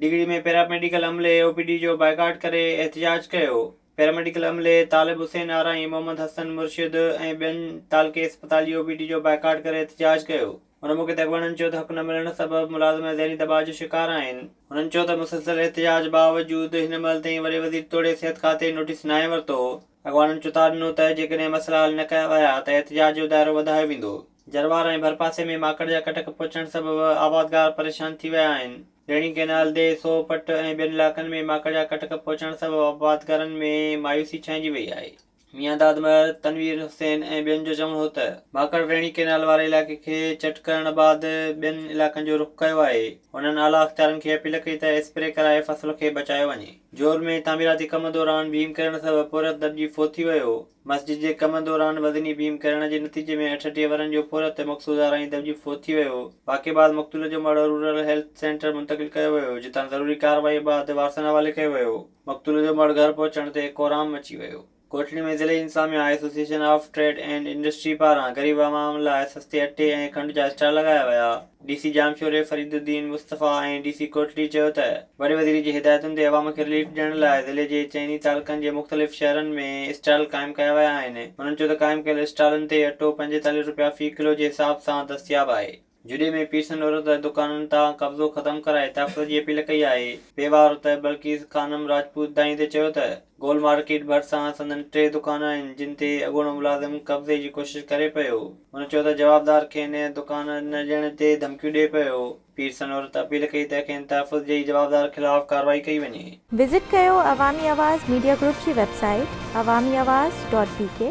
Digri ۾ paramedical عملي اي O P D جو بائيڪاٽ ڪري احتجاج ڪيو، پيراميڊيڪل عملي طالب حسين آرائين، محمد حسن مرشد ۽ ٻين تعلقي اسپتال جي او پي ڊي جو بائيڪاٽ ڪري احتجاج ڪيو، ان موقعي تي اڳواڻن چيو ته حق نه ملڻ سبب ملازم ذهني دٻاء جو شڪار آهن، هنن چيو ته مسلسل احتجاج باوجود هن مهل تائين وڏي وزير توڙي صحت کاتي نوٽيس ناهي ورتو، اڳواڻن چتاء ڏنو ته جيڪڏهن مسئلا حل نه ڪيا ويا ته احتجاج جو دائرو وڌايو ويندو. جروار ۽ ڀرپاسي ۾ ماڪڙ جا ڪٽڪ پهچڻ سبب آبادگار پريشان ٿي ويا آهن. ريڻي ڪئنال دي، سوهه پٽ ۽ ٻين علائقن ۾ ماڪڙ جا ڪٽڪ پهچڻ سبب آبادگارن ۾ مايوسي ڇانئجي وئي آهي. ميان داد مهر، تنوير حسين ۽ ٻين جو چوڻ هو ته، ماڪڙ ريڻي ڪئنال واري علائقي کي چٽ ڪرڻ بعد ٻين علائقن جو رخ ڪيو آهي. هنن اعليٰ اختيارن کي اپيل ڪئي ته اسپري ڪرائي فصل کي بچايو وڃي. جول ۾ تعميراتي ڪم دوران ڀيم ڪرڻ سبب پورهيت دٻجي فوت ٿي ويو. مسجد جي ڪم دوران وزني بيم ڪرڻ جي نتيجي ۾ اٺٽيهه ورهن جو پورهيت مقصود آرائين دٻجي فوت ٿي ويو. واقعي بعد مقتول جو مڙهه رورل هيلٿ سينٽر منتقل ڪيو ويو، جتان ضروري ڪارروائي بعد وارثن حوالي ڪيو ويو. مقتول جو مڙهه گهر پهچڻ تي ڪورام مچي ويو. ڪوٽڙي ۾ ضلعي انتظاميا association of trade and industry پاران غريب عوام لاء سستي اٽي ۽ کنڊ جا اسٽال لڳايا ويا. D C Jamshoro Fariduddin Mustafa ۽ D C Kotri چيو ته وڏي وزير جي هدايتن تي عوام کي رليف ڏيڻ لاء ضلعي جي چئني تعلقن جي مختلف شهرن ۾ اسٽال قائم ڪيا ويا آهن هنن چيو ته قائم ڪيل اسٽالن تي اٽو پنجيتاليهه رپيا في ڪلو جي حساب سان دستياب آهي. جوڏي ۾ پيرسن عورت دڪانن تان قبضو ختم ڪرائي تحفظ جي اپيل ڪئي آهي پيوا عورت بلقيس خانم راجپوت دانهين تي چيو ته گول مارڪيٽ ڀرسان سندن ٽي دڪان آهن جن تي اڳوڻو ملازم قبضي جي ڪوشش ڪري پيو. هن چيو ته جوابدار کين دڪان نه ڏيڻ تي ڌمڪيون ڏئي پيو. پير سنورت اپيل ڪئي ته کين تحفظ ڏئي جوابدار خلاف ڪارروائي ڪئي وڃي. وزٽ ڪيو عوامي آواز ميڊيا گروپ جي website Awami Awaz dot بي ڪي.